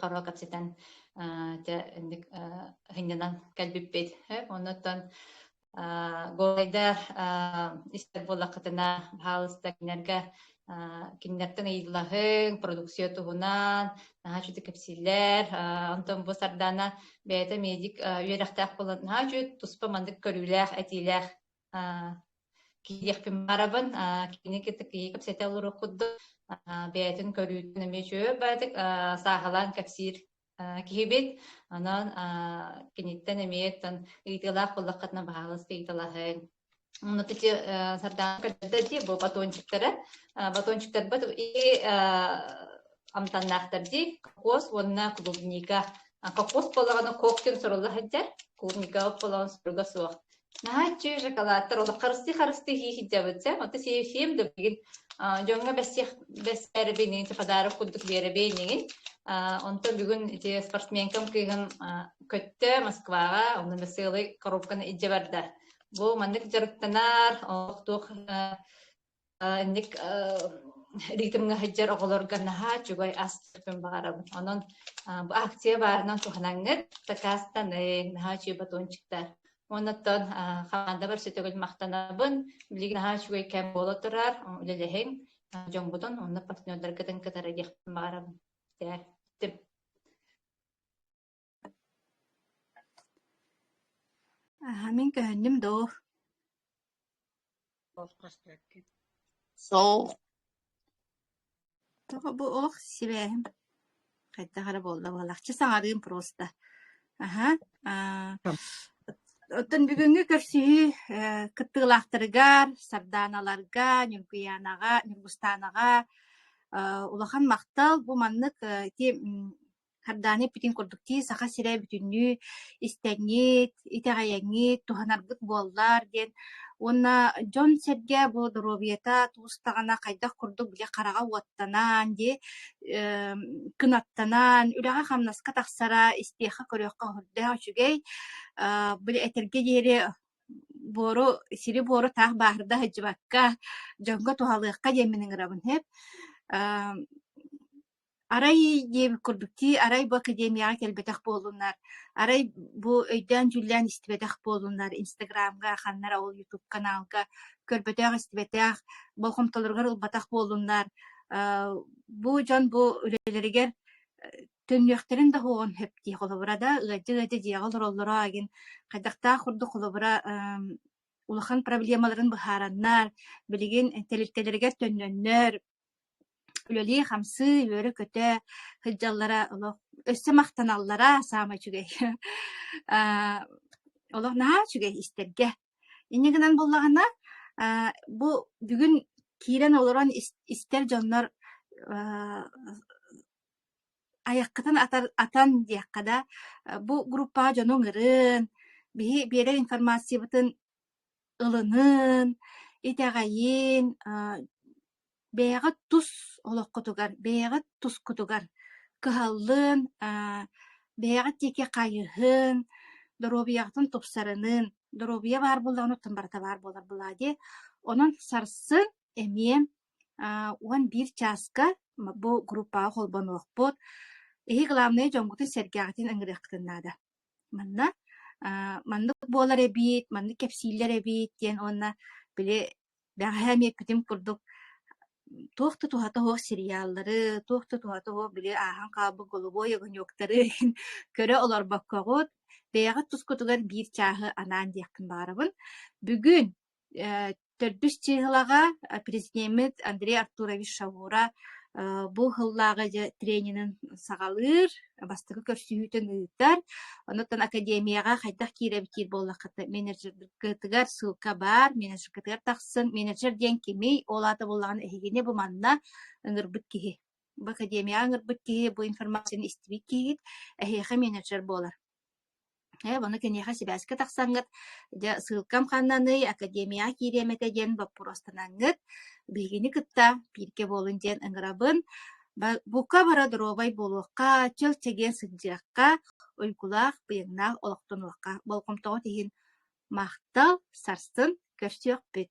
Харуо кэпсэтэн дьэ инник сынньанан кэлбиппит оннуттан Голайда истэр буоллаххытына хаалыста кинилэргэ кинилэртэн ыйыллаһыҥ продукция туһунан наһаа үчүгү кэпсииллэр онтон бу сардаана бэйэтэ медик үөрэхтээх буолан наһаа үчүгү туспа маннык көрүүлээх этиилээх Кииэхпин барабын, кини кытта киһи кэпсэтэ олоруох курдук, бэйэтин көрүүтүн эмиэ чөөр баатык сааһалаан кэпсиир киһибит. Онон киниттэн эмиэ тан ыйытыылаах буллаххытына баһаалыста ыйыталаһыҥ. Онно тити сардаан көрдө дии бу батончиктара. Батончиктарбат и амтаннаахтар дии кокос уонна клубника. Кокос болағаны коктен соруллахаддар, клубника болағаны суруга суох. наһаа иччи шоколадтар олох харыстыы харыстыы хии сылдьабыт сэ отту сиэм да билигин дьоҥҥо бэссиэх бэссээрэбиниҥ подарок курдук биэрэбиниҥин онтон бүгүн ити спортсменкам кыыгын көттө Москваҕа онно веселый коробканы илдьэ барда бу маннык дьарыктанар олох туох инник ритмҥэ сылдьар оҕолорго наһаа үчүгэй астыппын баҕарабын. Онон бу акция баарынан туһанаҥҥыт, такаастаны, наһаа үчүгэй батончиктар. Оннотон хамандабар сөтөгүл махтанабын. Билигин наһаа үчүгэй кэм буола турар, үлэлэһиҥ. Дьоҥбутун онно партнердаргытын кытары диэхпин баҕарабын. Мин көһүннүм доо? Сол. Тоҕо бу ох сибээһим хайдах эрэ буолла буоллахчы саҥарыым просто. Аһа, аа оттон бүгүҥҥү көрсүһүү э кыттыылаахтарыгар, сардааналарга, Ньүргүйаанаҕа, Ньургустаанаҕа э улахан махтал. Бу маннык э ити м Хардааны эппитин курдук дии Саха сирэ бүтүннүү истэҥҥит, итэҕэйэҥҥит, туһанаргыт буоллар диэн уонна дьон-сэргэ бу доруобуйата туустаҕына хайдах курдук били хараҕа уоттанан, дии, эм, кынаттанан, үлэҕэ-хамнаска тахсара, истиэххэ-көрүөххэ көрдөөх үчүгэй. Э, били этэргэ диэри буору, сири-буору таах бааһырда сылдьыбакка, дьоҥҥо туһалыахха диэн мин ыҥырабын, һэп. Эм, Арай диэн курдук дии, арай бу академияҕа кэлбэтэх буоллуннар, арай бу өйдөөн-дьүүллээн истибэтэх буоллуннар, Инстаграмҥа, ханнар ол YouTube каналга көрбөтөх-истибэтэх, болҕомтолоругар ылбатах буоллуннар, аа, бу дьон бу үлэлэригэр төннүөхтэрин да уоҕун сөп дии, холобура да ыалдьа-ыалдьа дьиэҕэ олороллоро игин хайдахтаах курдук холобура эм, улахан проблемаларын быһаараннар, билигин тэрилтэлэригэр төннөннөр, үлэлии-хамсыы, үөрэ-көтө сылдьаллара олох өссө махтаналлара саамай үчүгэй. Аа, олох наһаа үчүгэй истэргэ. Инньэ гынан буоллаҕына, аа, бу бүгүн киирэн олорон ис истэр дьоннор аа, айаххытын атар атан диэххэ да, бу группаҕа дьону ыҥырын, биһи биэрэр информациябытын ылыныан, итэҕэйиэн, аа, бэйэҕит тус олоххутугар, бэйэҕит тускутугар кыһаллыан, аа, бэйэҕит диэки хайыһын, доруобуйаҕытын тупсарыныан, доруобуйа баар буоллаҕына, оттон барыта баар буолар былаадьа. Онон сарсын эмиэ аа, уон биир чааска бу группаҕа холбонуохпут. Эһиги главное дьоҥҥутун сэргээҕитин ыҥырыаххытын наада. Манна аа маннык буолар эбит, маннык кэпсииллэр эбит диэн уонна били бэҕэһээ эмиэ эппитим курдук туох да туһата суох сериаллары, туох да туһата суох били ааһан хаалбыт голубой огоньуктары иһин көрө олорбоккоҕут, бэйэҕит тускутугар биир чааһы анаан диэхпин баҕарабын. Бүгүн Э, төрдүс чыыһылаҕа президеммит Андрей Артурович Шавура э, бу сыллааҕы дьэ тренерин саҕалыыр, бастакы көрсүһүүтүн ыытар. Онуттан академияҕа хайдах киирэбитиир буоллаххыта, менеджергытыгар ссылка баар, менеджергытыгар тахсан, менеджер диэн кимий, ол аата буоллаҕына эһигини бу манна ыҥырбыт киһи. Бу академияҕа ыҥырбыт киһи, бу информацияны истибит киһит эһиэхэ менеджер буолар. Ээ, ону киниэхэ сибээскэ тахсаҥҥыт, дьэ, ссылкам хааннаныай, академияҕа киириэм этэ диэн боппуруостанаҥҥыт, биһигини кытта бииргэ буолун диэн ыҥырабын. Ба- бука бара доруобай буолуохха, чэл-чэгиэн сылдьыахха, уйгулаах, быйаҥнаах олохтонуохха. Болҕомтоҕут иһин махтал, сарсын көрсүөхпүт.